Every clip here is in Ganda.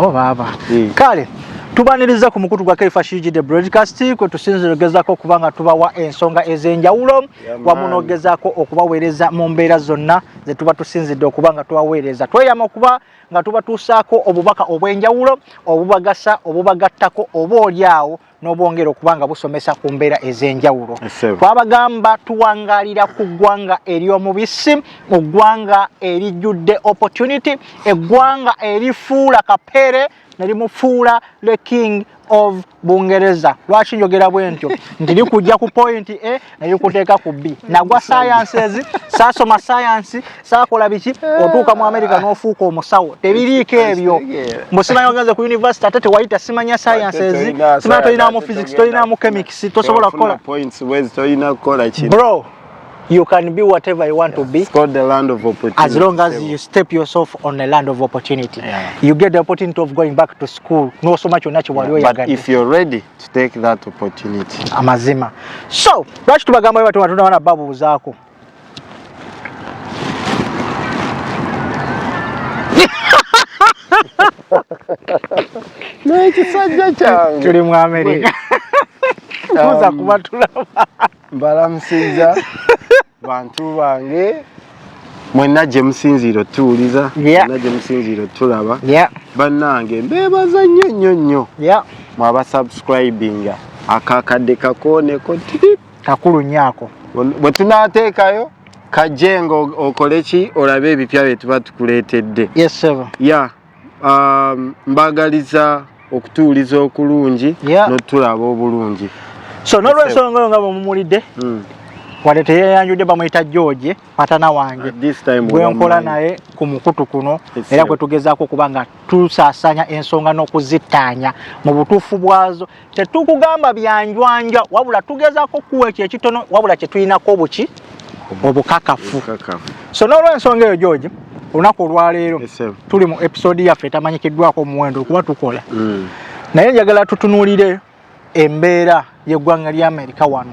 Oh, baaba hmm. kale tubaniriza ku mukutu gwa kaifa shiji de broadcast kwe tusinzira ogezako okuba nga tubawa ensonga ez'enjawulo wamu n'ogezako okubaweereza mu mbeera zonna ze tuba tusinzidde okuba nga tubaweereza tweyama okuba nga tubatuusaako obubaka obw'enjawulo obubagasa obubagattako oba oli awo n'obwongera okuba nga busomesa ku mbeera ez'enjawulo twabagamba tuwangalira ku ggwanga ery'omubisi mu ggwanga erijjudde opportunity eggwanga erifuula kapere nerimufuula the king of bungereza lwaki njogera bwentyo nti likujja ku point e neyukuteeka ku bbi nagwa sciences saasoma science saakola biki otuuka mu america n'ofuuka omusawo tebiriiko ebyo mbusimanyi ogenze ku university ate tewayita simanya sciences simanya tolinamu physics tolinamu chemics tosobola kukola bro you can be whatever you want yeah. to be. It's called the land of opportunity. As long as you step yourself on the land of opportunity, yeah. you get the opportunity of going back to school. No so much on natural yeah. But if you're ready, to take that opportunity amazima so lwaki tubagamba bwe batuma tunawana babuuzaako n'ekisajja kyange tuli mu amerika tuza um, kubatulaba mbalamusiza bantu bange mwenna gye musinziira otuwuliza mwenna gye musinziira otulaba bannange mbeebaza nnyo nnyo nnyo mwabasubscribinga akakadde kakooneko tip kakulu nnyo ako bwe tunaateekayo kajje nga okole ki olabe ebipya bye tuba tukuleetedde ya um, mbagaliza okutuuliza okulungi yeah. notulaba obulungi so nolwensonga oyo nga bwemumulidde mm. wadde teyeyanjudde bamuyita george patana wange gwenkola naye ku mukutu kuno era kwetugezaako okuba nga tusasanya ensonga n'okuzittaanya mu butuufu bwazo tetukugamba byanjwanja wabula tugezako kuwa ekyo ekitono wabula kyetulinako obuki obukakafu so n'olwensonga eyo george olunaku olwaleero tuli mu episode yaffe etamanyikiddwako omuwendo okuba tukola mm. naye njagala tutunulire embeera yeggwanga lya amerika wano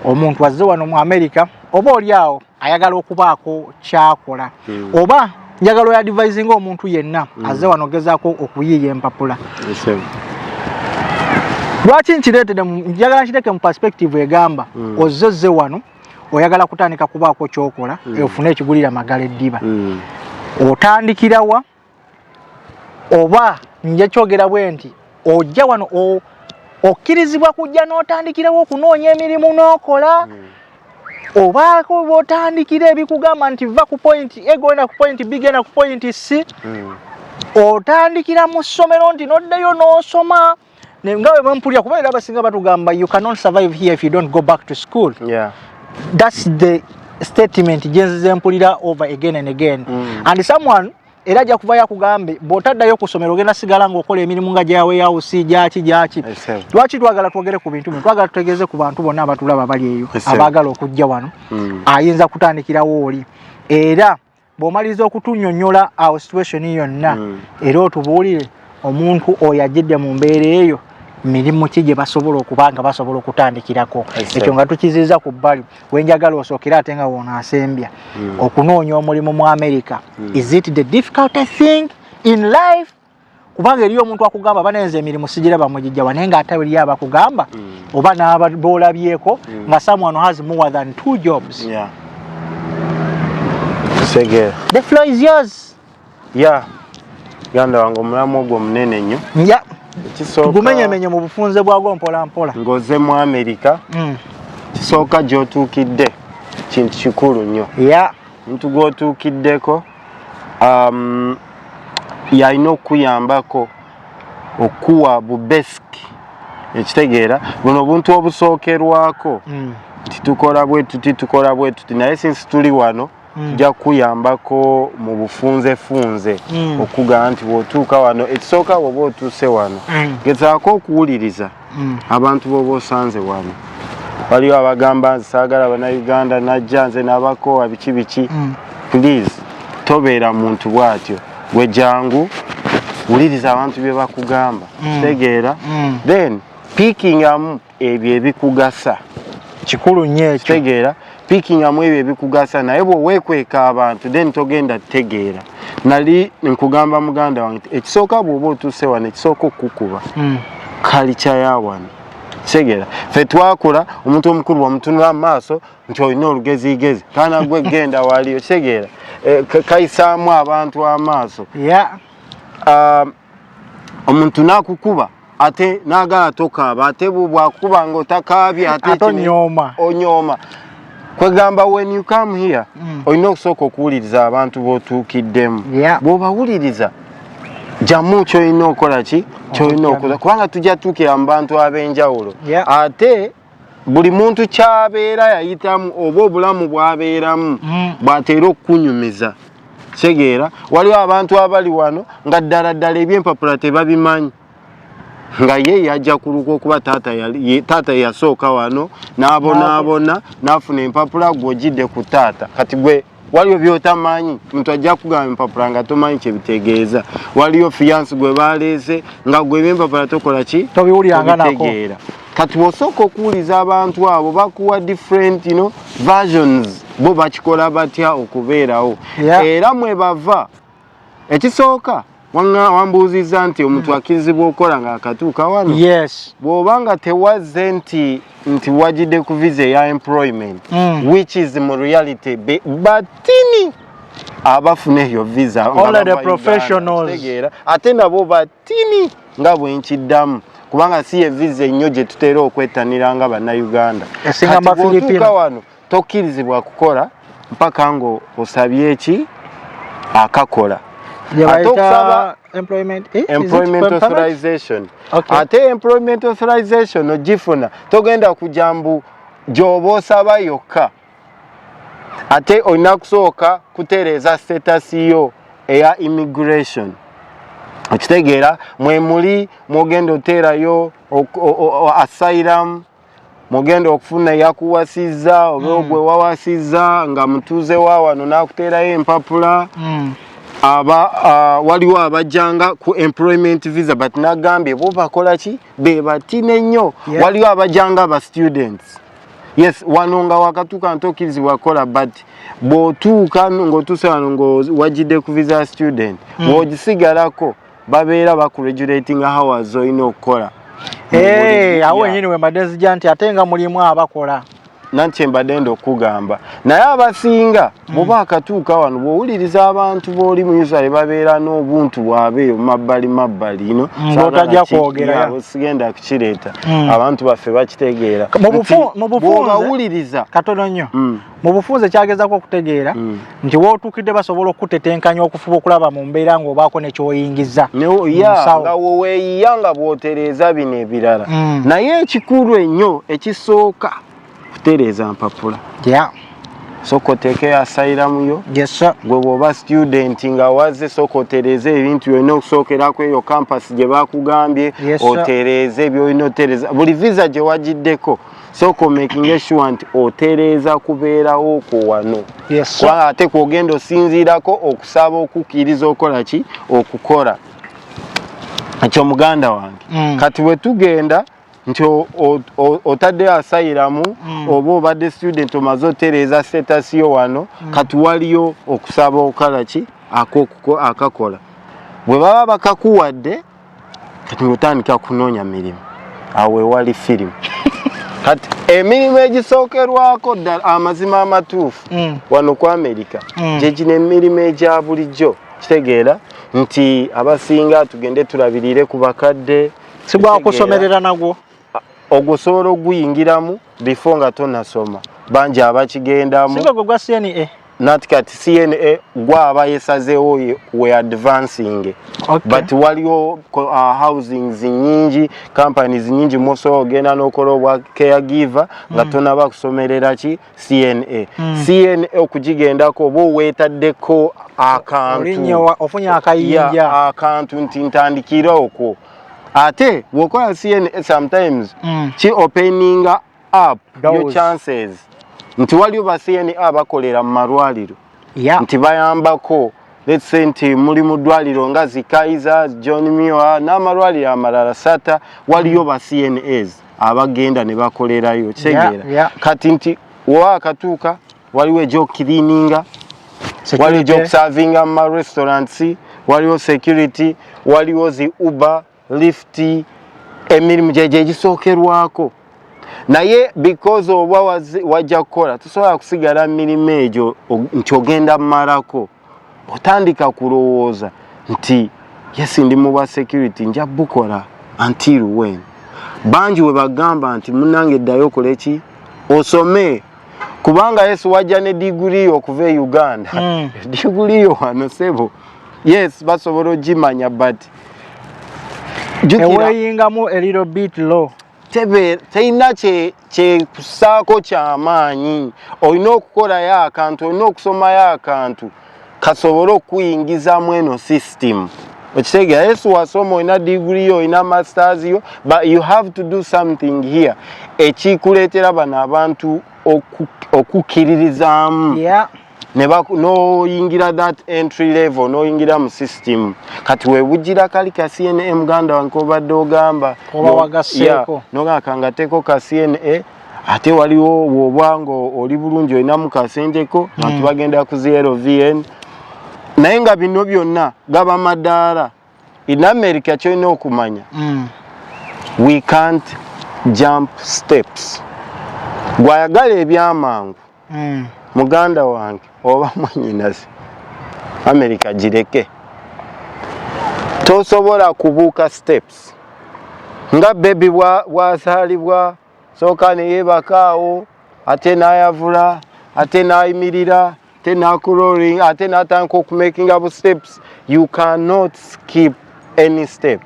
omuntu azze wano mu amerika oba oli awo ayagala okubaako kyakola hmm. oba njagala oyadivisinga omuntu yenna hmm. aze wano gezaako okuyiiya empapula lwaki nkireetede njagala nkiteeke mu perspective egamba hmm. ozze ozze wano oyagala kutandika kubaako kyokola ofune ekigulira magala eddiba otandikirawa oba nja kyogera bwe nti ojja wano okkirizibwa kujja n'otandikirawo okunoonya emirimu n'okola hmm. obaako botandikira ebikugamba nti va ku pointi e genda ku pointi b genda ku pointi c hmm. otandikira mu ssomero nti noddeyo n'osoma no naye nga webampulira kuba era abasinga batugamba you cannot survive here if you don't go back to school yeah. that's the statement gyenzize mpulira over again and again mm. and someone era ajja kuvayo akugambe bw'otaddayo ku ssomero ogenda sigala ng'okola emirimu nga gya weyawusi gyaki gyaki lwaki twagala twogere ku bintu bino twagala tutegeeze ku bantu bonna abatulaba bali eyo abaagala okujja wano hmm. ayinza kutandikirawo oli era bw'omaliriza okutunyonyola awo situation yonna mm. era otubuulire omuntu oyo ajjidde mu mbeera eyo mirimu ki gye basobola okuba nga basobola okutandikirako ekyo nga tukiziza ku bbali wenjagala osookere ate nga wono asembya hmm. okunoonya omulimu mu america hmm. is it the difficult thing in life kubanga eriyo omuntu akugamba banenze emirimu sigira bamugijjawa naye nga ate eriyo abakugamba mm. oba nabolabyeko mm. nga someone has more than two jobs yeah. Sege. the flow is yours yeah. ganda wange omulamu ogwo munene nnyo yeah. gumenyemenye mu bufunze bwagwo mpola mpola ngoze mu amerika mm. kisooka gyotuukidde kintu kikulu nnyo yeah. omuntu gwotuukiddeko um, yalina okukuyambako okuwa bubesiki ekitegeera buno obuntu obusookerwako mm. nti tukola bwe tuti tukola bwe tuti naye sinsi tuli wano mm. tujja kukuyambako mu bufunzefunze mm. okugamba nti bwotuuka wano ekisooka woba otuuse wano gezaako okuwuliriza mm. abantu boba osanze wano waliwo abagamba nze saagala banauganda najja nze nabakoowa biki biki mm. please tobeera muntu bwatyo gwe jangu wuliriza abantu bye bakugamba mm. tegeera mm. then pikingamu ebyo ebikugasa kikulu nyo ekyo tegeera pikinga mu ebyo ebikugasa naye bwewekweka abantu then togenda tegeera nali nkugamba muganda wange ekisooka bwoba otuuse wano ekisooka okukukuba hmm. kalikya ya wano kitegeera fe twakula omuntu omukulu wamutunula mu maaso nti olina olugezigezi kaana gwe genda waliyo kitegeera eh, kayisaamu abantu amaaso um, omuntu nakukuba ate nagala tokaaba ate bwakuba nga otakaabye ate onyooma onyooma kwegamba when you come here mm. olina okusooka okuwuliriza abantu botuukiddemu yeah. bwobawuliriza jamu kyolina okola ki kyolina okola kubanga tujja tuukira mu bantu ab'enjawulo yeah. ate buli muntu kyabeera yayitamu oba obulamu bwabeeramu mm. bwateera okukunyumiza kitegeera waliwo abantu abali wano nga ddala ddala ebyempapula tebabimanyi nga ye yajja kuluka okuba taata yasooka wano n'abonaabona n'afuna empapula gwe ojidde ku taata kati gwe waliyo byotamanyi muntu ajja kugamba empapula nga tomanyi kyebitegeeza waliyo fiyansi gwe baleese nga gwe ebyempapula tokola ki tobitegeera kati osooka okuwuliza abantu abo bakuwa different no versions bo bakikola batya okubeerawo era mwebava ekisooka wambuuzizza nti omuntu mm. akkirizibwa okukola ng'akatuuka wano yes bw'oba nga tewazze nti nti wagidde ku visa eya employment mm. which is mu reality batini abafuna eyo visa tegeera ate nabo batini nga bwe nkiddamu kubanga si ye visa ennyo gye tutera okwettanira nga bannayuganda esinga mafilipino wano tokkirizibwa kukola mpaka nga osabye eki akakola ate okusaba employment eh, authorization ate employment authorization ogifuna togenda kujja mbu gyoba osaba yokka ate olina kusooka kutereeza status yo eya immigration okitegeera mwemuli mwogenda oteerayo asylum mugenda okufuna eyakuwasizza oba mm. ogwe wawasizza nga mutuuze wa wano n'akuteerayo empapula mm. aba uh, waliwo abajjanga ku employment visa but nagambye bo bakola ki be batine nnyo yeah. waliwo abajjanga ba students yes wano nga wakatuuka ntokirizibwa kukola but bw'otuuka ng'otuuse wano ng'owagidde ku visa student mm. bw'ogisigalako babeera bakuregulatinga hours olina okukola eh, awo wenyini wembadde zija nti ate nga mulimu abakola nanti mbadde nda okugamba naye abasinga hmm. bwoba akatuuka wano bwowuliriza abantu booli muisrael babeera n'obuntu bwabeeyo mabbali mabbali ino hmm, otajja kwogera sigenda kukireeta hmm. abantu baffe bakitegeera mubawuliriza katono nnyo mu bufunze kyagezako okutegeera mm. nti wootuukidde basobola okutetenkanya okufuba okulaba mu mbeera ng'obaako ne kyoyingiza nga woweeyiya nga bw'otereeza bino ebirala mm. naye ekikulu ennyo ekisooka kutereeza mpapula soka oteekeyo asairamuyo gwe bwoba studenti nga waze soka otereeze ebintu byolina okusookerako eyo kampasi gye bakugambye otereeze byolina otereeza buli visa gye wagiddeko sooka omakinge sure nti otereeza kubeerawo kwo wano kuba ate kwogenda osinziirako okusaba okukkiriza okola ki okukola ekyo muganda wange mm. kati bwe tugenda nti otadde asayiramu mm. oba obadde student omaze otereeza setasiyo wano mm. kati waliyo okusaba okola ki akakola bwe baba bakakuwadde kati ngotandika kunoonya mirimu awo wewali firimu kati emirimu egisookerwako ddala amazima amatuufu mm. wano ku amerika mm. gyegino emirimu egya bulijjo kitegeera nti abasinga tugende tulabirire ku bakadde sigwakusomerera nagwo ogwo osobola okuguyingiramu before nga tonasoma bangi abakigendamu eh? nati kati cna gwaba yesazeewo we advancing okay. but waliwo uh, housings nyingi companies nyingi musobola ogenda nokola obwa care giver nga mm. tonaba kusomerera ki cna mm. cna okugigendako oba owetaddeko akantu akantu nti ntandikire okwo ate wokola cna sometimes mm. ki opening up Those. your chances nti waliwo ba cna bakolera mu malwaliro yeah. nti bayambako let's say nti muli mu ddwaliro nga zi kaiser john miwa n'amalwaliro amalala sata waliyo ba cnas abagenda ne bakolerayo kitegeera yeah, yeah. kati nti wowa akatuuka waliwo egyokukiriininga waliwo egyokusavinga muma restaurants waliwo security waliwo zi uber lift emirimu gyegyo egisookerwako naye because oba wajja kukola tosobola kusigala mumirimu egyo nti ogenda mumalako otandika kulowooza nti yes ndi mu bwa security nja bukola until when bangi we bagamba nti munange ddayo okole ki osome kubanga yesu wajja ne diguli okuva e uganda mm. diguli yo wano sebo yes basobola ogimanya but eweyingamu eliro bit low terina kyekusaako kyamaanyi olina okukolayo akantu olina okusomayo akantu kasobole okukuyingizamu eno system okitegeera yesu wasoma olina digiri yo olina masters yo but you have to do something here ekikuleetera bano abantu okukkiririzaamu noyingira that entry level noyingira mu system kati webugira kali ka cna muganda wange obadde ogamba nogamba kangateko ka cna ate waliwo woba nga oli bulungi olinamu kasenteko hmm. bantu bagenda ku zlvn naye nga bino byonna gaba madaala in america kyolina okumanya hmm. we can't jump steps gwayagala ebyamangu mm. muganda wange oba mwanyinazi america gireke tosobola kubuuka steps nga bebi bwazaalibwa sooka neyebakaawo ate nayavula ate nayimirira ate nakuroling ate natandika okumakinga bu steps you cannot skip any step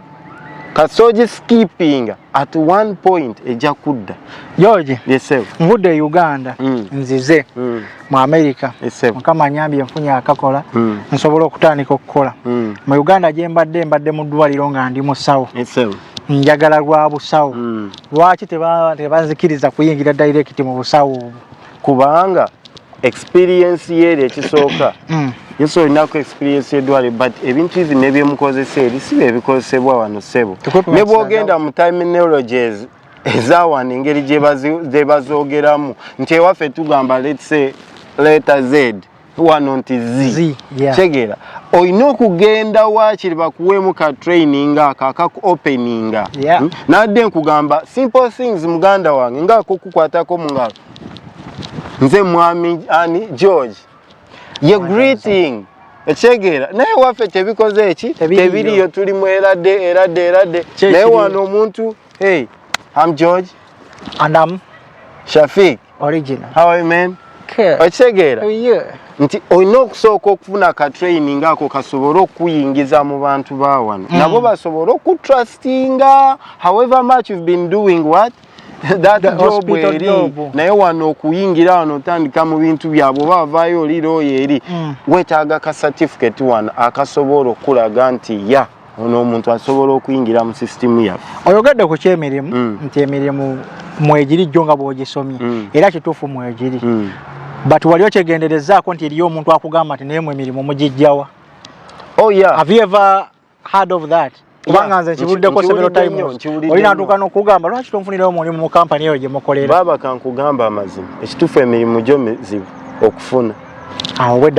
kasoji skipping at one point eja kudda George yesel mvude Uganda mm. nzize mm. mu America yesel mukama nyambi mfunya akakola mm. nsobola okutandika okukola mm. mu Uganda je mbadde mbadde mu ddwaliro nga ndi musawo yesel njagala lwa busawo mm. lwaki tebanzikiriza kuyingira direct mu busawo kubanga experience yeri ekisooka mm. yesu olinaku experience edwale but ebintu ivi nebyemukozesa eri si byebikozesebwa wano sebo ne bwogenda mu terminologies ezawano engeri gyebazogeramu nti ewaffe tugamba letse leta zed wano nti zi kitegeera olina okugenda wakiri bakuweemu ka training ako akaku openinga hmm? nadde nkugamba simple things muganda wange ngaakokukwatako mungalo nze mwami ani george ye greeting ekyegeera naye waffe tebikoze eki tebiriyo tuli mu erade erade erade naye wano omuntu Hey, I'm George. And I'm Shafiq. Original. How are you, man? Good. Okitegeera? Oh, yeah. Nti olina okusooka okufuna ka training ako kasobole okuyingiza mu bantu ba wano. Mm. Nabo basobole okutrustinga however much you've been doing what? that the job eri naye wano okuyingira wano otandika mu bintu byabwe oba avaayo olira oyo eri mm. wetaaga ka certificate wano akasobola okulaga nti ya yeah. ono omuntu asobola okuyingira mu sisitimu yaffe oyogedde ku kyemirimu mm. nti emirimu mwegiri jjo nga bwogisomye mm. era kituufu mwegiri mm. but wali okyegenderezaako nti eriyo omuntu akugamba nti naye mu emirimu mugijjawa oh, yeah. have you ever heard of that kubanga nze nkibuddeko several times oli natuuka nokugamba lwaki tonfunirayo mulimu mu kampani eyo gye mukolera baaba kankugamba amazima ekituufu emirimu gyo mizibu okufuna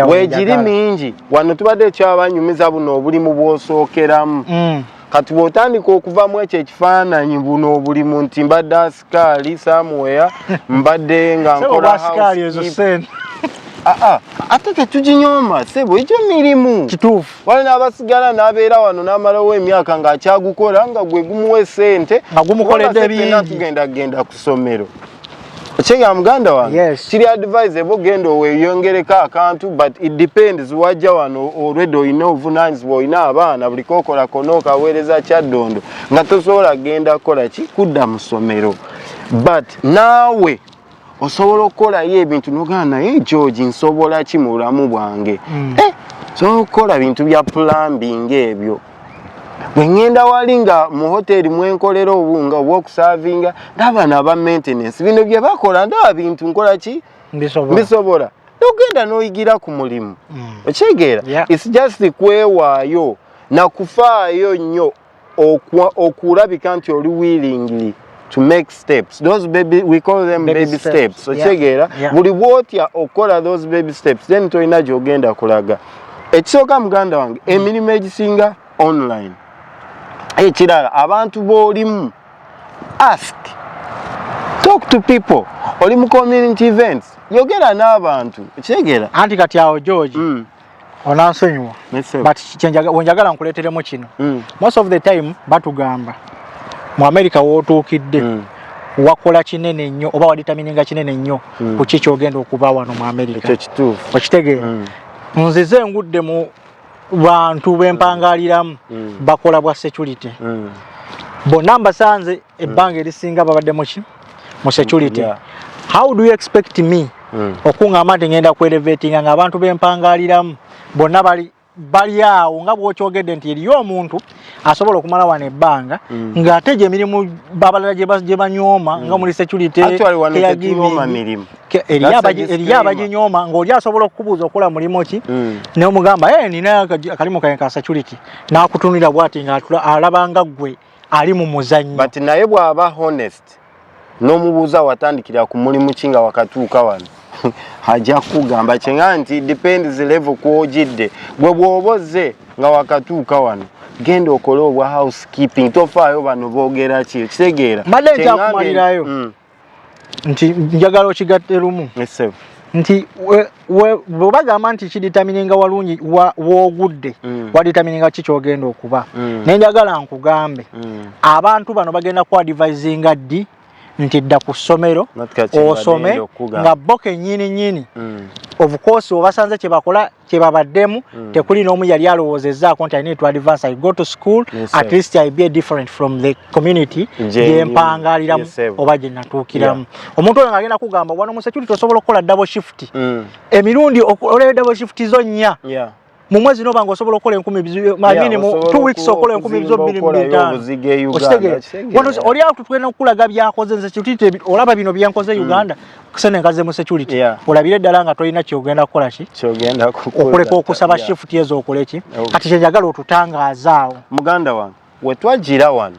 wegiri mingi wano tubadde ekyabanyumiza buno obulimu bwosookeramu mm. kati bwotandika okuvamu ekyo ekifaananyi buno obulimu nti mbadde asikaali samuwea mbadde nga nkola ah, ah. ate tetuginyooma sebo egyo mirimu kituufu wali n'abasigala n'abeera wano n'amalawo emyaka ng'akyagukola nga gwe gumuwa esente nga gumukoledde bingi tugenda kugenda ku ssomero Chenga muganda wa. Yes. Kiri advise ebo gendo we yongere ka kantu but it depends waja wano already you know vunanz boy na abana buli kokola kono ka wereza cha dondo. Nga tosola genda kola ki kuda musomero. But nawe osobola okola ye ebintu nogana eh George nsobola ki muramu bwange. Mm. Eh. So kola bintu bya plumbing ebyo. bwengenda wali nga mu hoteri mwenkolera obunga oba okusavinga ndabana aba maintenance bino bye bakola ndaba bintu nkola ki mbisobola nogenda noyigira ku mulimu mm. okyegeera its just kwewaayo nakufaayo nnyo okulabika nti oli willingly to make steps those baby we call them baby, baby steps, steps. okitegeera yeah. yeah. buli bwotya okukola those baby steps then tolina gyogenda kulaga ekisooka muganda wange mm. emirimu egisinga online ekirala abantu bolimu ask talk to people oli mu community events yogera n'abantu okitegeera anti kati awo george mm. onansonyiwa but wenjagala nkuleteremu kino mm. most of the time batugamba mu america wotuukidde mm. wakola kinene nnyo oba waditamininga kinene nnyo mm. ku ki kyogenda okuba wano mu america okitegeera mm. nzize engudde mu bantu bempangaliramu mm. bakola bwa security mm. bonna mbasanze ebbanga erisinga babadde muki mu security yeah. how do you expect me mm. okungamba nti ngenda ku elevatinga nga abantu bempangaliramu bonna bali bali awo nga bwokyogedde nti eriyo omuntu asobola okumala wano ebbanga mm. ng'ate gye mirimu babalala gye banyooma mm. nga muli security eriyo abaginyooma ng'oli asobola okukubuuza okola mulimu ki mm. neomugamba eh, nina akalimu kae ka security n'akutunulira bwati ng'alabanga ggwe ali mu muzannyo but naye bw'aba honest n'omubuuza watandikira ku mulimu ki nga wakatuuka wano ajja kugamba kyenga nti depends level kwogidde gwe bw'oba ozze nga wakatuuka wano genda okole obwa housekeeping tofaayo bano boogera ki okitegeera mbadde nkyakumalirayo mm. nti njagala okigatte lumu nti bwebagamba nti kiditamininga walungi wogudde mm. waditamininga ki kyogenda okuba mm. naye njagala nkugambe mm. abantu bano bagenda kuadivisinga ddi nti dda ku ssomero osome nga bo kenyini nyini obukosi obasanze kyebakola kyebabaddemu mm. tekuli n'omu yali alowoozezaako nti alina to advance i go to school yes, at least i be different from the community gyempangaaliramu yes, oba gye natuukiramu yeah. omuntu oyo ngaagenda kugamba wano mu security osobola okukola double shift mm. emirundi olaba double shift zo nnya yeah. mu mwezi noba nga osobola okukola enkumi manyini mu t weeks okola enkumi bizo bbiri mubitaano okitegeera oli awo tutugenda okukulaga byakoze nze kitite olaba bino byenkoze mm. uganda kusene nkaze mu security yeah. olabire dala nga toyina kyogenda kukola ki kyogenda okuleka okusaba yeah. shift yezo okole ki okay. kati kyenjagala otutangaza awo muganda wange wetwajira wano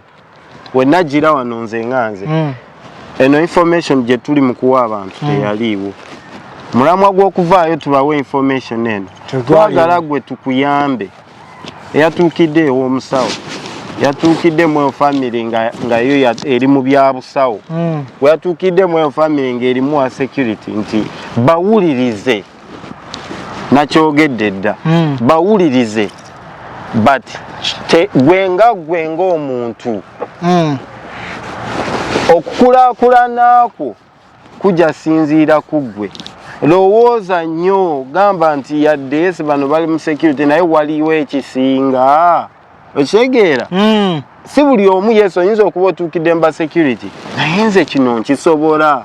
wenajira wano nze nganze mm. eno information gye tuli mu kuwa abantu mm. teyaliiwo mulamwa gw'okuvaayo tubawe information eno twagala gwe tukuyambe eyatuukidde ew'omusawo yatuukidde mu enfamily nga yo eri mu byabusawo hmm. weyatuukidde mu enfamily nga erimu wa security nti bawulirize nakyogedde dda hmm. bawulirize but gwe nga gwe ngaomuntu hmm. okukulakulana kwo kujja sinziira ku ggwe lowooza nnyo gamba nti yadde si bano bali mu security naye waliwo ekisinga okitegeera hmm. si buli omu yesu oyinza okuba otuukidde mba security naye nze kino nkisobola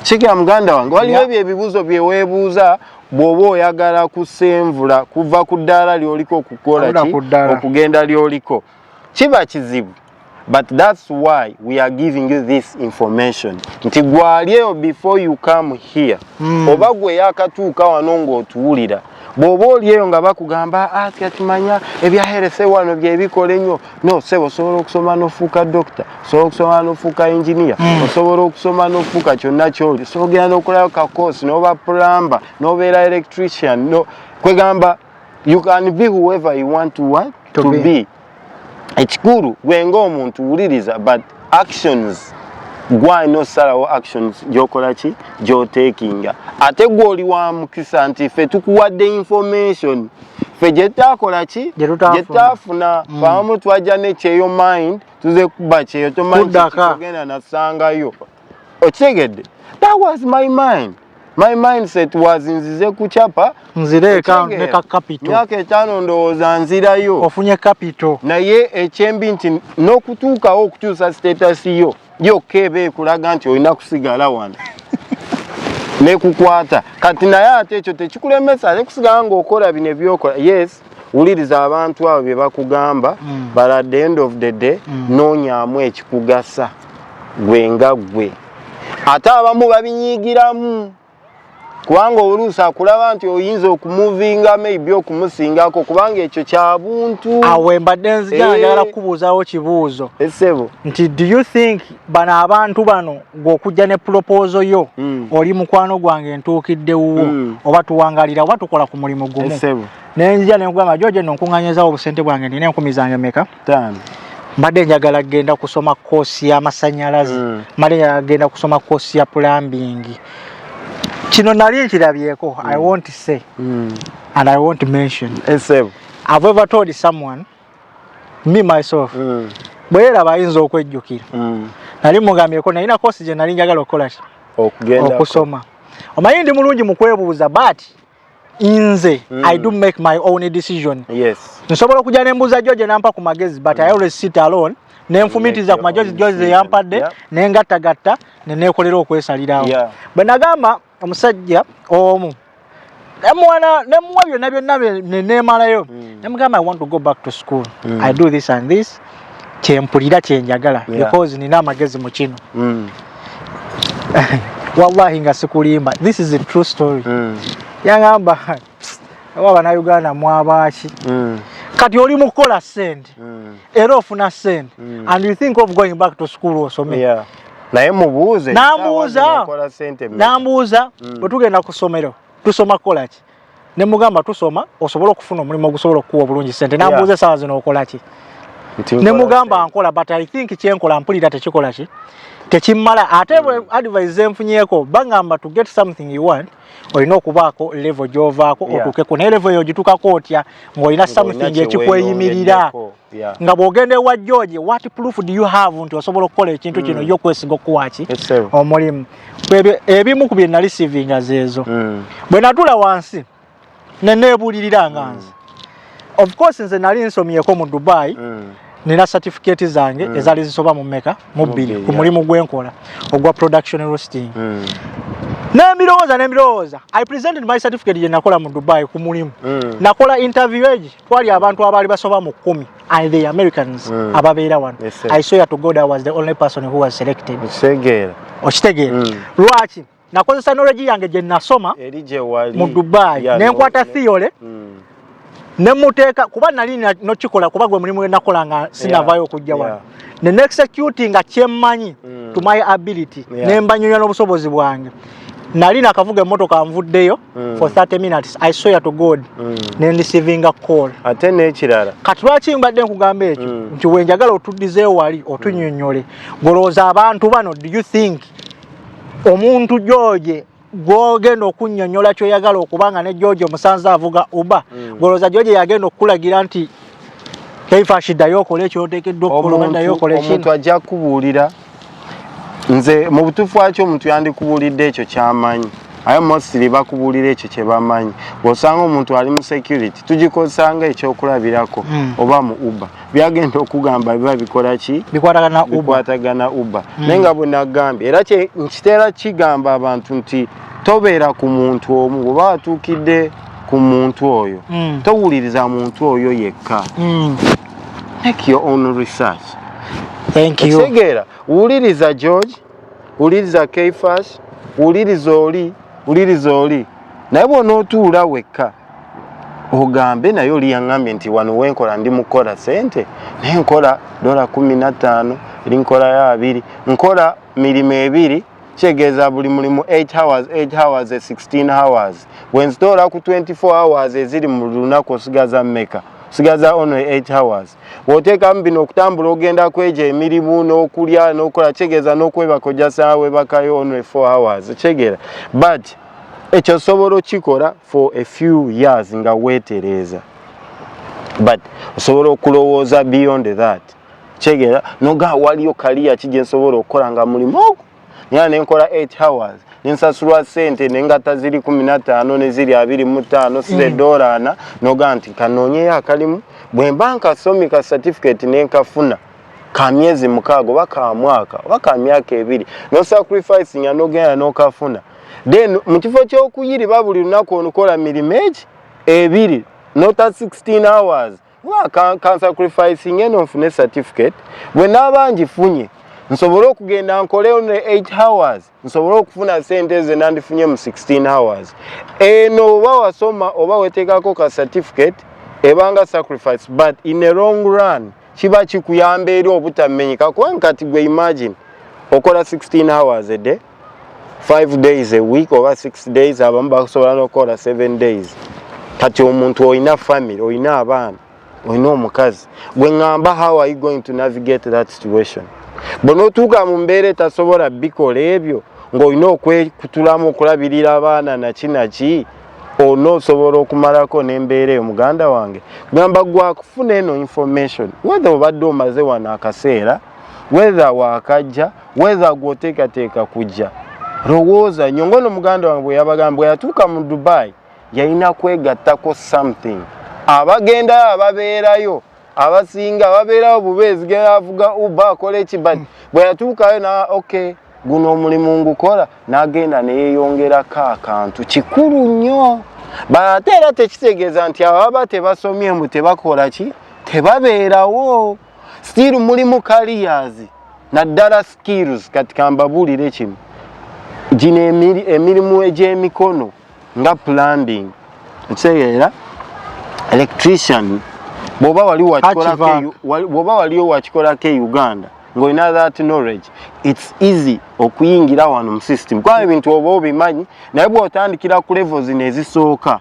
kigera muganda wange waliwo ebyo ebibuuzo byeweebuuza bw'oba oyagala kusenvula kuva ku ddaala ly'oliko okukola ki okugenda ly'oliko kiba kizibu but that's why we are giving you this information nti gwali eyo before you come here mm. oba gwe yakatuuka wano ng'otuwulira bw'oba oli eyo nga bakugamba ati ah, atimanya ebyaherese wano byebikola ennyo no sebo osobola okusoma n'ofuuka dokita osobola okusoma n'ofuuka inginiya mm. osobola okusoma n'ofuuka kyonna kyoli osobola ogenda n'okolayo kakoosi n'oba plumber n'obeera electrician no kwegamba you can be whoever you want to, want to, to be, be. ekikulu gwe ng'omuntu wuliriza but actions gwalina osalawo actions gyokola ki gyotekinga ate gwe oli wa mukisa nti ffe tukuwadde information ffe gyetutakola ki gyetutafuna mm. famu twajja nekyeyo mind tuze kuba kyeyo tomanyi kigenda nasangayo okitegedde that was my mind my mindset was nzize kuchapa nzireeka neka capital myaka etaano ndowooza nzirayo ofunye capital naye ekyembi nti n'okutuukawo okukyusa status yo yokka eba ekulaga nti olina kusigala wano nekukwata kati naye ate ekyo tekikulemesa nekusigala ngaokola bino ebyokola yes wuliriza abantu abo bye bakugamba mm. but at the end of the day mm. noonyamu ekikugasa gwe nga gwe ate abamu babinyigiramu kubanga oluusi akulaba nti oyinza okumuvinga maybe okumusingako kubanga ekyo kyabuntu awe mbadde nzijana eh. njagala kukubuuzawo kibuuzo esebo eh, nti do you think bano abantu bano gwe okujja ne pulopoozo yo mm. oli mukwano gwange ntuukidde wuwo mm. oba tuwangalira oba tukola ku mulimu gumu nenzija nenkugamba joje no nkunganyizawo obusente bwange nina enkumi zange meka mbadde njagala kgenda kusoma koosi y'amasanyalaze mm. mbadde njagala kgenda kusoma koosi ya pulambingi kino nali nkirabyeko mm. i won't say mm. and i won't mention esebo I've ever told someone me myself mm. bweyeraba ayinza okwejjukira mm. nali mugambyeko nalina kosi gye nali njagala okukola ki okusoma omanyi ndi mulungi mu kwebuuza but nze mm. i do make my own decision yes. nsobola okujja nembuuza jo gye nampa ku magezi but mm. i always sit alone nenfumitiza ku majozi jozi eyampadde yeah. nengattagatta neneekolera okwesalirawo yeah. bwe nagamba omusajja omu nemuwana nemuwa byonna byonna nenemalayo hmm. nemugamba i want to go back to school mm. i do this and this kyempulira kyenjagala yeah. because nina amagezi mu kino mm. wallahi nga sikulimba this is a true story mm. yangamba oba abanauganda mwabaaki mm. kati oli mukukola sente mm. era ofuna sente mm. and you think of going back to school osome yeah. naye mubuuze nambuuza nambuuza mm. bwetugenda mm. ku ssomero tusoma kukolaki ne mugamba tusoma osobole okufuna omulimu ogusobola okukuwa obulungi sente nambuuza yeah. esaawa zino okolaki ne mugamba nkola but i think kyenkola mpulira tekikola ki tekimala ate mm. advise zenfunyeko bagamba to get something you want olina okubaako levo gyovaako otuukeko naye levo eyo ogituukako otya ng'olina something ekikweyimirira nga bw'ogenda ewa george what proof do you have nti osobola okukola ekintu kino hmm. yo okwesiga okuwaaki omulimu ebimu ku bye nali sivinga zeezo hmm. bwe natula wansi ne nebuulirira nga mm. nze of course nze nali nsomyeko mu dubai mm. nina certificate zange mm. ezali zisoba mu meka mu bbiri ku mulimu gwenkola ogwa production roasting mm. nembirowooza nembirowooza i presented my certificate gye nakola mu dubai ku mulimu mm. nakola interview egi twali abantu abaali basoba mu kkumi and the americans mm. ababeera wano yes, i swear to god i was the only person who was selected okitegeera mm. lwaki nakozesa knowledge yange gye nasoma mu dubai yeah, nenkwata no, theory mm. nemuteeka kuba nali nokikola kuba gwe mulimu gwenakola nga sinavayo okujja yeah, wano yeah. ne nexecuti nga kyemmanyi mm. to my ability yeah. nembanyonya n'obusobozi bwange nali nakavuga emotoka nvuddeyo mm. for 30 minutes i swear to god mm. nendisivinga call ate nekirala kati lwaki mbadde nkugamba ekyo mm. nti wenjagala otuddizeewali otunyonyole mm. golowooza abantu bano do you think omuntu George gwogenda okunyonyola kyoyagala okubanga ne George omusanze avuga uba mm. goloza George yagenda okulagira nti kaifashi dayo okole kyotekedwa okulobandayo okole kino omuntu ajja kubuulira nze mu butuufu wakyo omuntu yandikubuulidde ekyo kyamanyi aye mostly bakubuulira ekyo kye bamanyi bw'osanga omuntu ali mu security tugikozesanga ekyokulabirako hmm. oba mu uber byagenda okugamba biba bikola ki bikwatagana uba hmm. naye nga bwenagambye era nkitera kigamba abantu nti tobeera ku muntu omu oba watuukidde ku muntu oyo hmm. towuliriza muntu oyo yekka hmm. make your own research thank you wuliriza george wuliriza keifash wuliriza oli wuliriza oli naye bwonootuula wekka ogambe naye oli yaŋambye nti wano wenkola ndi mukukola sente naye nkola dola kumi nattaano eri nkolayo abiri nkola mirimu ebiri kyegeeza buli mulimu 8 hours 8 hours 16 hours wenzitoola ku 24 hours eziri mu lunaku osigaza meka osigaza ono 8 hours bw'oteekamu bino okutambula ogenda kweja emirimu n'okulya n'okukola kitegeeza n'okwebaka ojja saawa webakayo only four hours kitegeera but ekyo osobola okikola for a few years nga weetereeza but osobola okulowooza beyond that kitegeera nogaa waliyo kaliya ki gye nsobola okukola nga mulimu ogu nina nenkola 8 hours nensasulwa sente nengata ziri kumi nataano neziri abiri mu taano size mm. dola ana noga nti kanoonyeyo akalimu bwemba nkasomi ka certificate nenkafuna ka myezi mukaaga oba ka mwaka oba ka myaka ebiri nosacrifice nga nogenda nokafuna then mu kifo kyokuyiriba buli lunaku onukola mirimo eki ebiri nota 16 hours kansacrificing eno nfune certificate bwe naaba ngifunye nsobole okugenda nkoleyo ne 8 hours nsobole okufuna sente ze nandifunye mu 16 hours eno oba wasoma oba weteekako ka certificate ebanga sacrifice but in a long run kiba kikuyamba eri obutamenyeka kubanga kati gwe imagine okola 16 hours a day 5 days a week oba 6 days abamu basobola nokukola 7 days kati omuntu olina family olina abaana olina omukazi gwe ngamba how are you going to navigate that situation bwonotuuka mu mbeera etasobola bikola ebyo ng'olina okwekutulamu okulabirira abaana naki naki olina osobola okumalako n'embeera eyo muganda wange gamba gwakufuna eno information wethe obadde omaze wano akaseera wethe wakajja wether gwoteekateeka kujja lowooza nyo ngaono muganda wange bweyabagamba bweyatuuka mu dubai yalina kwegattako something abagendayo ababeerayo abasinga ababeerayo bubeezi geavuga uba akola ekibadi hmm. bweyatuukayo na okay guno omulimu ngukola nagenda neyeyongerako akantu kikulu nnyo baate era tekitegeeza nti ababa tebasomye mbu tebakola ki tebabeerawo still mulimu careers naddala skills kati kambabuulire kimu gino emirimu egy'emikono nga plumbing ekitegeera electrician bwoba waliwo wakikolako e uganda ng'olina that knowledge its easy okuyingira wano mu system kuba ebintu oba obimanyi naye bw'otandikira ku levo zino ezisooka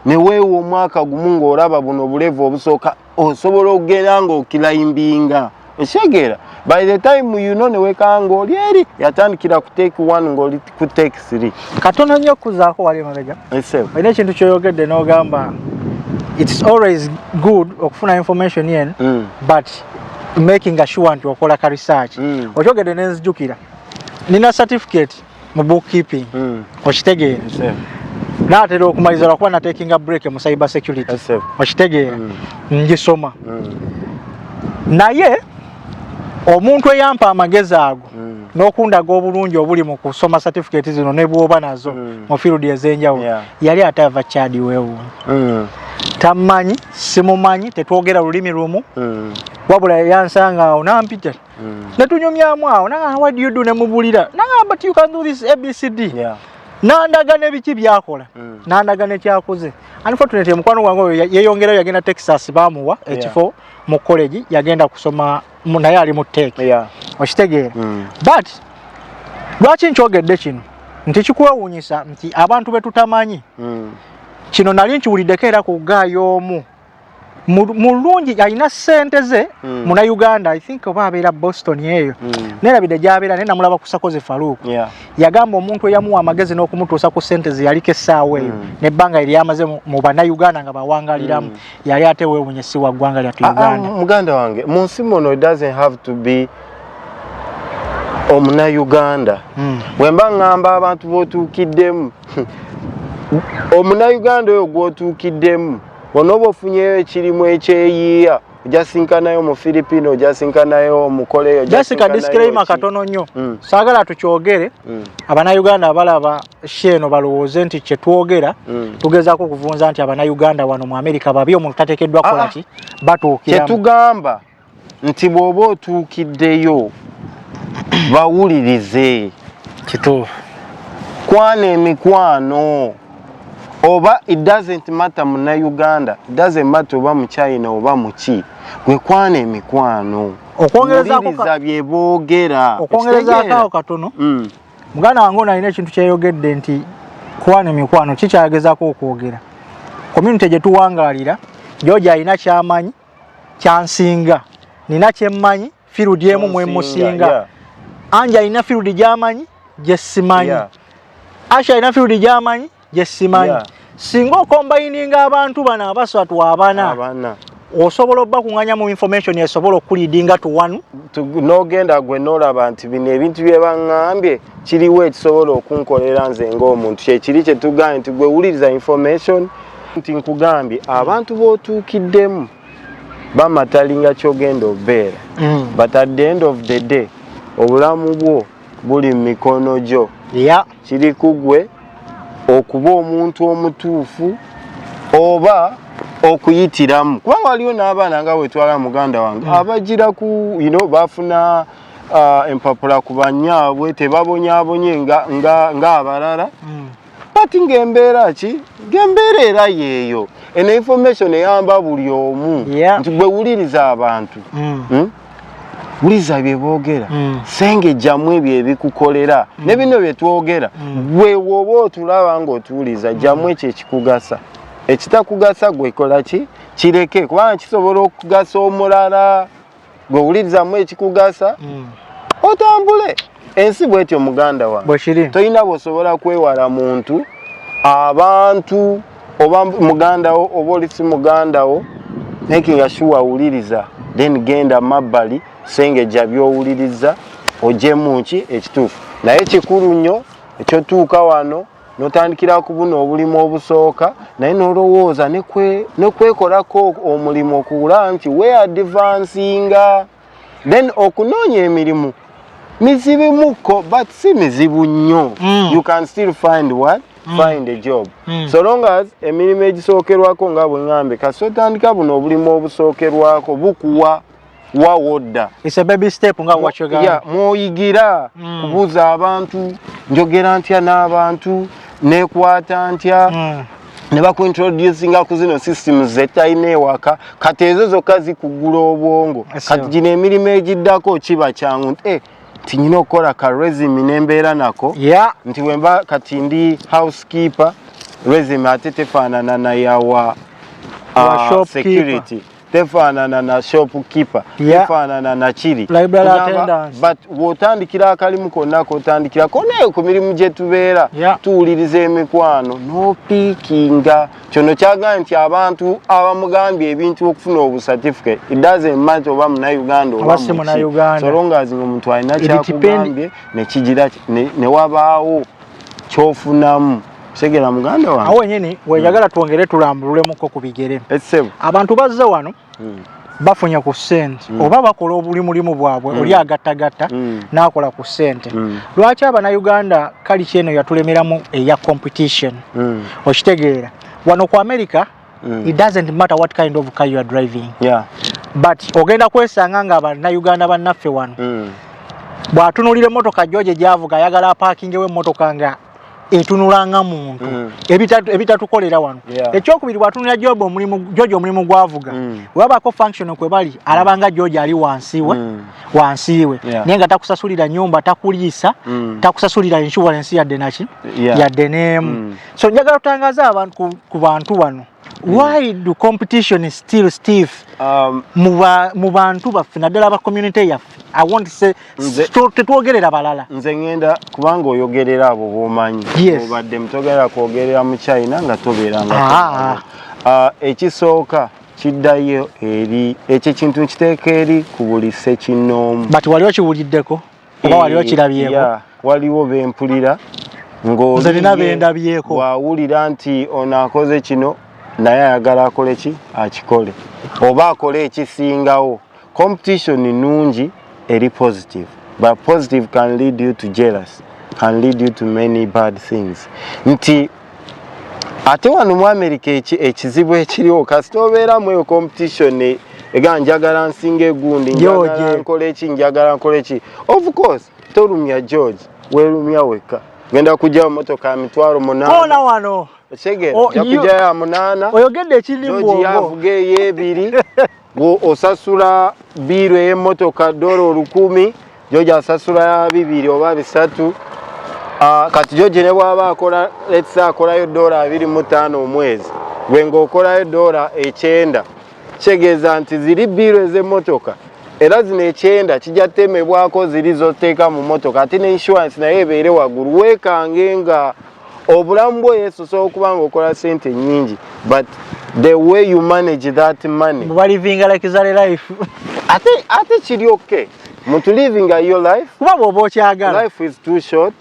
neweewa omwaka gumu ng'olaba buno bulevu obusooka osobola okugera ng'okilaimbinga ekitegeera by the time you know newekanga ng'oli eri yatandikira ku take one ng'oli ku take three katono nnyo okukuzaako wali emabega olina ekintu kyoyogedde n'ogamba it's always good okufuna information yen mm. but making assure nti okola ka research mm. okyogedde nenzijukira nina certificate mu bookkeeping mm. okitegeera yes, natera okumaliza lwakuba natekinga break mu cyber security yes, okitegeera mm. ngisoma mm. naye omuntu eyampa amagezi ago mm. nokundaga obulungi obuli mu kusoma certificate zino nebwoba nazo mm. mu field ezenjawulo yeah. yali atava chadi wewu mm. tamanyi simumanyi tetwogera lulimi lumu mm. wabula yansanga awo nampita mm. netunyumyamu awo nagamba what do you do nemubulira nagamba but you can do this abcd yeah. nandaga nebiki byakola mm. nandaga nekyakoze unfortunately mukwano gwange oyo yeyongerayo yagenda texas bamuwa yeah. ekifo mu college yagenda kusoma naye ali mu teke yeah. okitegeera mm. but lwaki nkyogedde kino nti kikwewunyisa nti abantu betutamanyi mm. kino nali nkiwuliddeko era ku gaayo omu mulungi alina sente ze mm. muna uganda i think oba abeera boston eyo mm. nerabidde gyabeera naye namulaba kusakoze faluuk yeah. yagamba omuntu eyamuwa amagezi n'okumutuusa ku sente ze yaliko essaawa eyo mm. nebbanga eryamaze mu banauganda nga bawangaliramu mm. yali ate wewunye si wa ggwanga lyatu ah, ah, uganda muganda wange mu nsi muno it doesn't have to be omuna uganda mm. wemba ngamba abantu botuukiddemu omuna uganda oyo gwotuukiddemu onoba ofunyeyo ekirimu ekyeyiiya ojasinkanayo mu philippine ojasinkanayo omukole eyo jasika disclaimer katono nnyo mm. saagala tukyogere mm. abanauganda abalaba sheeno balowooze nti kyetwogera mm. tugezaako okuvunza nti abanauganda wano mu amerika babi omuntu tatekeddwa ah, ah. kolaki batuukira kyetugamba nti bw'oba otuukiddeyo bawulirize kituufu kwana emikwano oba it doesn't matter muna uganda it doesn't matter oba mu china oba muki gwe kwana emikwano okwongerezaawuliriza bye boogera okwongerezaako awo katono mm. muganda wange onalina ekintu kyeyogedde nti kwana emikwano kikyayagezako okwogera community gye tuwangalira joja alina kyamanyi kyansinga nina kyemmanyi firudi emu mwemusinga yeah. anja alina firudi gyamanyi gyesimanyi yeah. asha alina firudi gyamanyi gyesimanyi yeah. singa okombayininga abantu bano abasatu abana osobola obba kunganya mu information esobola okulidinga to one nogenda gwe nolaba nti bino ebintu byebaŋambye kiriwo ekisobola okunkolera nze ngaomuntu kyekiri kyetugambye nti gwewuliriza information nti nkugambye abantu b'otuukiddemu bamatalinga kyogenda obeera mm. but at the end of the day obulamu bwo buli mu mikono gyo kiri kugwe okuba omuntu omutuufu oba okuyitiramu kubanga waliwo n'abaana nga wetwala muganda wange mm. abagira ku you know, bafuna uh, empapula ku banyaabwe tebabonyabonye ng'abalala nga, nga mm. kati ngaembeera ki ngaembeera era yeeyo eno information eyamba buli omu nti gwe wuliriza abantu mm. hmm? wuliza bye boogera mm. senge jjamu ebyo ebikukolera mm. ne bino bye twogera gwe woba otulaba ngaotuwuliza jjamu ekyo ekikugasa ekitakugasa gwekola ki kireke kubanga kisobola okugasa omulala gwe wulirizamu ekikugasa mm. otambule ensi bwetyo muganda wa tolina bwosobola kwewala muntu abantu oba mugandawo oba oli si mugandawo makinga sure awuliriza then genda mabbali sengeja byowuliriza ojemu ki ekituufu naye kikulu nnyo ekyotuuka wano notandikira ku buno obulimu obusooka naye nolowooza nekwekolako omulimu okuwula nti we advansinga then okunoonya emirimu mizibimukko but si mizibu nnyo mm. you can still find what mm. find a job mm. so long as emirimu egisookerwako nga bweŋambe kasi otandika buno obulimu obusookerwako bukuwa wa wodda mwoyigira mm. kubuuza abantu njogera ntya n'abantu nekwata ntya mm. ne bakuintroducinga ku zino system zetalina ewaka kati ezo zokka zikugula obwongo kati gino emirimu egiddako kiba kyangu nti eh, nyina okukola ka resimi nembeera nako nti wemba kati ndi housekeeper resimi ate tefaanana nayawa uh, security tefaanana na shop keeper yeah. tefaanana na kiri but wotandikira akalimu konna kotandikira konayo ku mirimu gye tubeera yeah. tuwuliriza emikwano nopiikinga kyono kyagambye nti abantu abamugambye ebintu okufuna obusatifike idazemati oba munauganda obasolongazi nga omuntu alina kyakugambye nekigira newabaawo kyofunamu Segera muganda wange. Awo nyini weyagala hmm. twongere tulambululemu ko kubigere. Esebo. Abantu bazze wano. Hmm. bafunye ku sente mm. oba bakola obuli mulimu bwabwe mm. oli agattagatta mm. n'akola ku sente mm. lwaki abanauganda kali kyeno yatulemeramu eya competition mm. okitegeera wano ku america mm. it doesn't matter what kind of car you are driving yeah. but ogenda kwesanga nga abanauganda bannaffe wano mm. bw'atunulira emmotoka joje gyavuga ayagala apaakingewo emmotoka nga etunula nga muntu mm. ebitatukolera wano ekyokubiri bwatunula job omulimu george omulimu gwavuga mm. webabako function kwebali alaba nga george ali wansiwe mm. wansiwe naye nga takusasulira nyumba takuliisa takusasulira insurance yadde naki yadde nemu so njagala tutangaza abantu ku bantu bano why do competition is still stiff um, mu bantu baffe naddala ba community yaffe i want say tetwogerera balala nze ngenda kubanga oyogerera abo bomanyi obadde mutogerera kwogerera mu china nga tobeera nga ah. ah, ekisooka kiddayo eri ekyo ekintu nkiteeka eri ku buli sekinoomu but wali okiwuliddeko oba wali eh, okirabyeko yeah, waliwo bempulira nze nina bendabyeko wawulira nti ono akoze kino naye ayagala akole ki akikole oba akole ekisingawo competition nungi eri positive but positive can lead you to jealous can lead you to many bad things nti ate wano mu amerika ekizibu ekiriwo kasita obeera mu eyo competition e, ega njagala nsinga egundi njagala nkola eki njagala nkola eki of course tolumya george welumya wekka genda kujjawo motoka ya mitwalo munaana wano ojakujayo oh, amunaana oyogedde ekirimu obwo yavuga eyebiri osasula biiru ey'emmotoka dola olukumi george asasula bibiri oba bisatu ah, kati george ne bwaba akola lets akolayo dola abiri mu ttaano omwezi gwe ng'okolayo dola ekyenda kitegeeza nti ziri biiru ez'emmotoka era zino ekyenda kijja temebwako ziri zoteeka mu mmotoka ate ne insurance naye ebeere waggulu weekange nga obulamu bwo yesu osobola okuba nga okola sente nyingi but the way you manage that money balivinga like zale life ate ate kiri okay muntu living a your life kuba bwoba okyagala life is too short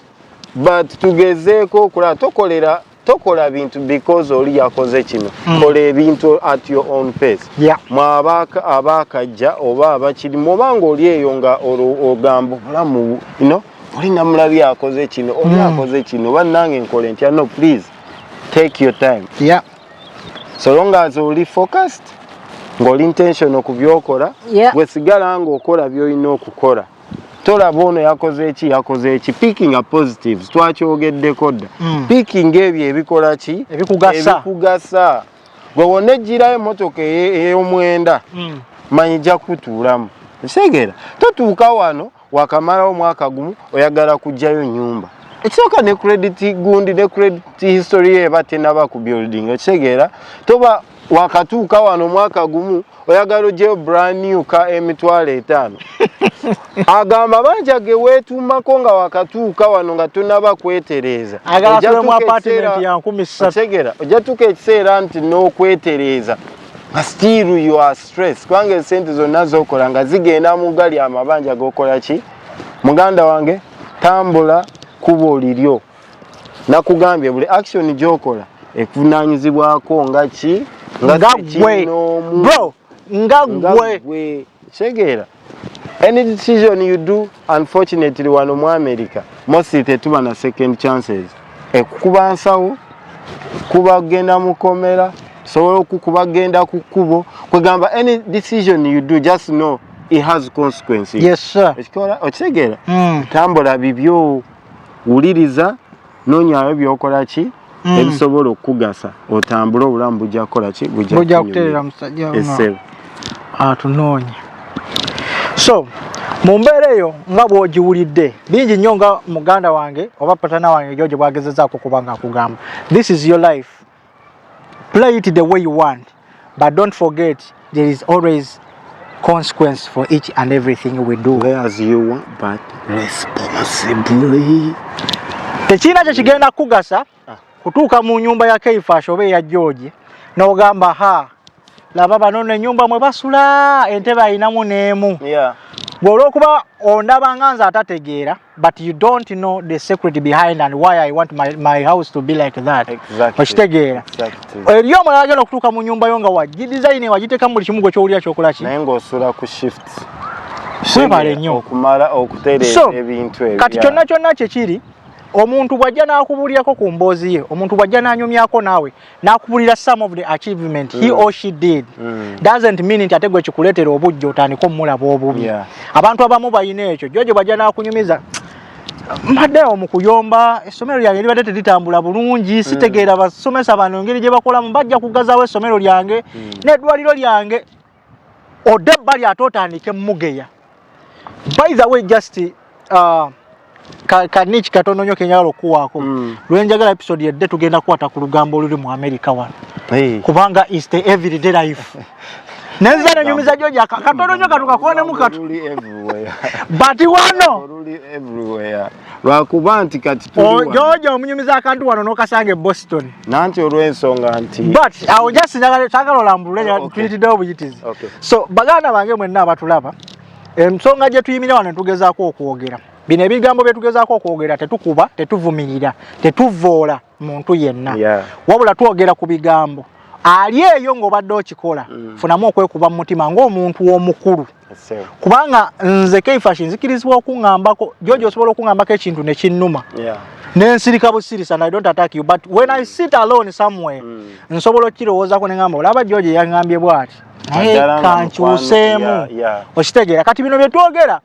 but tugezeeko okulaba tokolera tokola bintu because oli yakoze kino mm. kola ebintu at your own pace yeah. mwabaka abakajja oba abakirimu oba nga oli eyo nga ogamba obulamu you know? oli namulabi akoze kino oli hmm. akoze kino bannange nkole ntya no please take your time yeah. so long as oli focused ng'oli intention ku byokola yeah. wesigala ng'okola byolina okukola tolaba ono yakoze eki yakoze eki picking a positives twakyogeddeko dda mm. picking ebyo ebikola ki ebikugasa gwe wona ejjirayo emotoka ey'omwenda mm. manyi ja kutuulamu ekitegeera totuuka wano wakamala omwaka gumu oyagala kujjayo nyumba ekisooka ne credit gundi ne credit history ye eba tenaba ku building okitegeera toba wakatuuka wano omwaka gumu oyagala ojeyo brand new ka emitwalo etaano agamba banja ge weetuumako nga wakatuuka wano nga tonaba kwetereeza oja tuuka ekiseera nti n'okwetereeza still you are stress kubanga esente zonna zokola nga zigenda mu gali amabanja gokola ki muganda wange tambula kubo liryo nakugambye buli action gyokola ekuvunanyizibwako nga ki nga gwe bro nga gwe kitegeera any decision you do unfortunately wano mu america mostly tetuba na second chances ekukuba nsawo kuba genda mukomera sobola okukuba genda ku kkubo kwegamba any decision you do just know it has consequences yes sir okitegeera mm. tambula bibyo wuliriza nonyayo byokola ki mm. ebisobola okukugasa otambule obulamu bujja kukola ki bujja kuterera musajja esebo atunoonya so mu mbeera eyo nga bwogiwulidde bingi nnyo nga muganda wange oba patana wange george bwagezezaako kuba nga akugamba this is your life play it the way you want but don't forget there is always consequence for each and everything we do play as you want but responsibly tekirina kye kigenda kukugasa ah. kutuuka mu nyumba ya keifash oba eya george n'ogamba ha laba bano nenyumba mwe basula entebe ayinamu n'emu yeah. gwe olwokuba ondaba nga nze atategeera but you don't know the secret behind and why I want my, my house to be like that exactly. okitegeera exactly. eri omulala agenda okutuuka mu nyumba yo nga wagidizayini wagiteekamu buli kimu gwe kyowulira kyokola ki naye ng'osula ku shift webale nnyo okumala okutereeza ebintu ebyo kati kyonna kyonna kyekiri omuntu bw'ajja n'akubuulirako ku mboozi ye omuntu bw'ajja n'anyumyako naawe nakubulira some of the achievement mm. he or she did mm. doesn't mean nti ate gwe kikuleetera obujja otandika omulaba obubi yeah. abantu abamu balina ekyo jojo bajja nakunyumiza mbadde omu kuyomba essomero lyange libadde teritambula bulungi mm. sitegeera basomesa bano engeri gye bakolamu bajja kugazaawo essomero lyange mm. n'eddwaliro lyange odde ebbali ate otandike mugeya by the way just uh, kaniki katono nyo kenyala okuwaako mm. lwenjagala episode yedde tugenda kukwata ku lugambo oluli mu america wano hey. kubanga is the everyday life nenza nenyumiza joja katono nyo katukakonemu katu but wano lwakuba nti kati jojo omunyumiza akantu wano nokasanga e boston nanti olwensonga nti but awo just njagala sagala olambulule oh, mpitiddewo buyitizi so baganda bange mwenna abatulaba ensonga gye tuyimira wano netugezaako okwogera bino ebigambo bye tugezaako okwogera tetukuba tetuvumirira tetuvvoola muntu yenna yeah. wabula twogera ku bigambo ali eyo ng'obadde okikola mm. funamu okwekuba mu mutima ng'omuntu omukulu kubanga nze keifashi nzikirizibwa okuŋambako jojo osobola okuŋambako ekintu nekinnuma yeah. nensirika busirisa and i don't attack you but when i sit alone somewhere mm. nsobola okirowoozako nengamba olaba jojo yangambye bwati naye kankyuseemu okitegeera kati bino byetwogera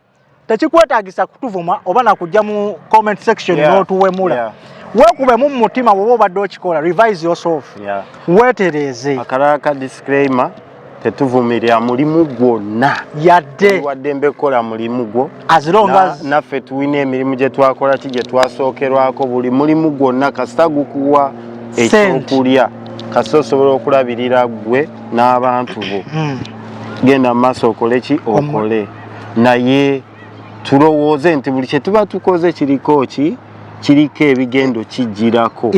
tekikwetagisa kutuvuma oba nakujja mu comment section yeah. notuwemula yeah. wekubemu mu mutima woba obadde okikola revise yourself yeah. wetereeze akaraka disclaimer tetuvumirira mulimu gwonna yadde wadde mbekola mulimu gwo naffe tulina emirimu gye twakola ki gye twasookerwako buli mulimu gwonna kasita gukuwa ekyokulya kasita osobola okulabirira gwe n'abantu bo hmm. genda mu maaso okole ki okole naye tulowooze nti buli kye tuba tukoze kiriko ki kiriko ebigendo kijjirako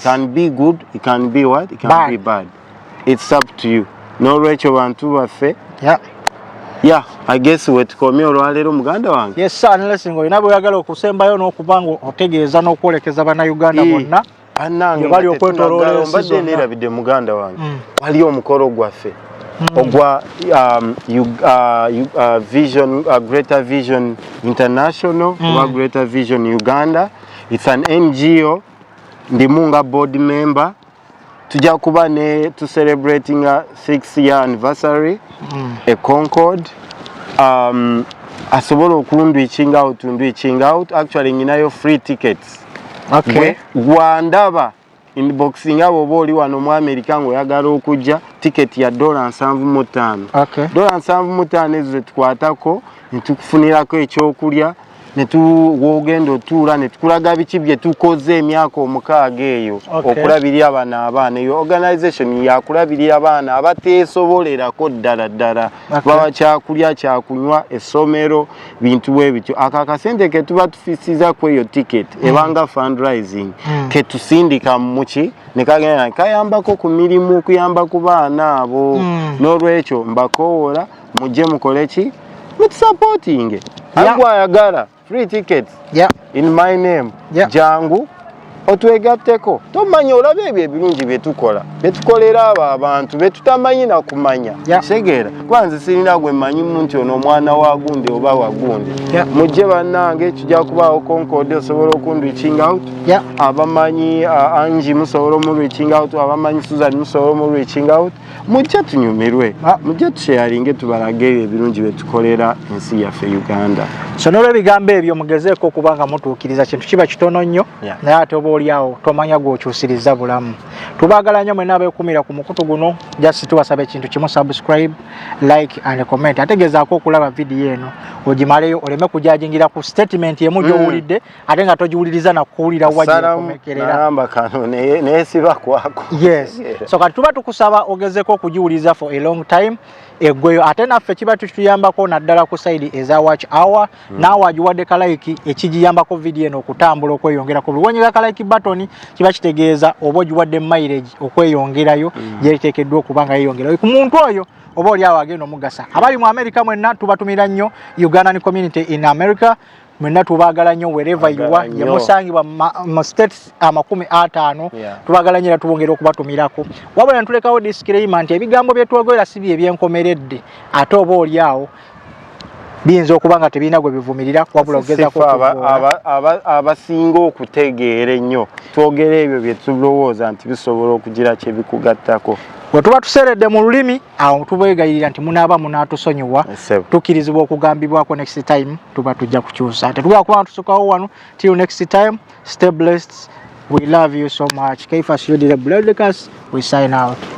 can be good it can be what it can bad. be bad it's up to you n'olwekyo bantu baffe yeah. yeah, I guess wetukomye olwaleero muganda wange yes, sir, unless nga olina bweyagala okusembayo n'okuba nga otegeeza n'okwolekeza bannayuganda bonna yeah. banange bali okwetoloola ensi mbadde neerabidde muganda wange mm. wali omukolo gwaffe mm. ogwa um, uh, uh, vision uh, greater vision international mm. oba greater vision uganda its an ngo ndimu nga board member tujja kuba ne to celebrating a six year anniversary mm. a concord um, asobola okundu iching out ndu iching out actually nyinayo free tickets okay. gwandaba inboxing abo oba oli wano mu america ngaoyagala okujja tiketi ya dola nsanvu mu ttaano okay. dola nsanvu mu ttaano ezo zetukwatako netukufunirako ekyokulya netuwogenda otuula netukulaga biki byetukoze emyaka omukaaga eyo okay. okulabirira bano abaana eyo organization yakulabirira baana abateesobolerako ddala ddala bawa kyakulya kyakunywa essomero bintu bwe bityo ako akasente ke tuba tufisiza ku eyo tiketi hmm. ebanga fundraising hmm. ke tusindika muki ne kagenda kayambako ku mirimu okuyamba ku baana abo hmm. n'olwekyo mbakowoola mujje mukole ki mutusapootinge agwe ayagala free tickets yeah. in my name yeah. jangu otwegatteko tomanya olaba ebyo ebirungi byetukola byetukolera abo abantu betutamanyi nakumanya kitegeera kuba nze sirina gwe manyimu nti ono omwana wa gundi oba wa gundi mujje bannange kijja kubaawo konkode osobola okun reaching out abamanyi uh, angi musobola omu reaching out abamanyi susan musobola omu reaching out mujja tunyumirwe ah. mujja tusheyalinge tubalage ebirungi byetukolera ensi yaffe uganda so nolwo ebigambo ebyo mugezeeko okuba nga mutuukiriza kintu kiba kitono nnyo naye ate oba oliawo tomanya gwokyusiriza bulamu tubagala nnyo mwena abekumira ku mukutu guno just tubasaba ekintu kimu subscribe like and comment ategezaako okulaba vidiyo eno ogimaleyo oleme kujajingira ku statement emu gyowulidde mm. ate nga togiwuliriza nakuwulira wakomekereramba kano naye siba kwako yes so kati tuba tukusaba ogezeko okugiwuliriza for a long time egweyo ate naffe kiba tukituyambako naddala ku saidi eza watch hour mm. naawe agiwadde kalaiki ekigiyambako vidiyo eno okutambula okweyongerako buliwonyega kalaiki batoni kiba kitegeeza oba ogiwadde mairage okweyongerayo mm. gyetekeddwa okuba nga yeyongerayo ku muntu oyo oba oli awo agenda omugasa abali mu america mwenna tubatumira nnyo ugandan community in america mwena tubagala nyo wherever you are ye musangibwa mu states amakumi atano tubagala nyo era tubongera okubatumirako wabula ntulekawo disclaimer nti ebigambo byetwogoera si bye byenkomeredde ate oba oli awo biyinza okuba nga tebirina gwe bivumirira wabula ogezako abasinga okutegeera ennyo twogera ebyo bye tulowooza nti bisobola okugira kye bikugattako bwe tuba tuseredde mu lulimi awo tubegayirira nti munaaba munatusonyiwa tukirizibwa okugambibwako next time tuba tujja kukyusa tetugala kuba tusukawo wano till next time stay blessed we love you so much kaifa siyodire bledcas we sign out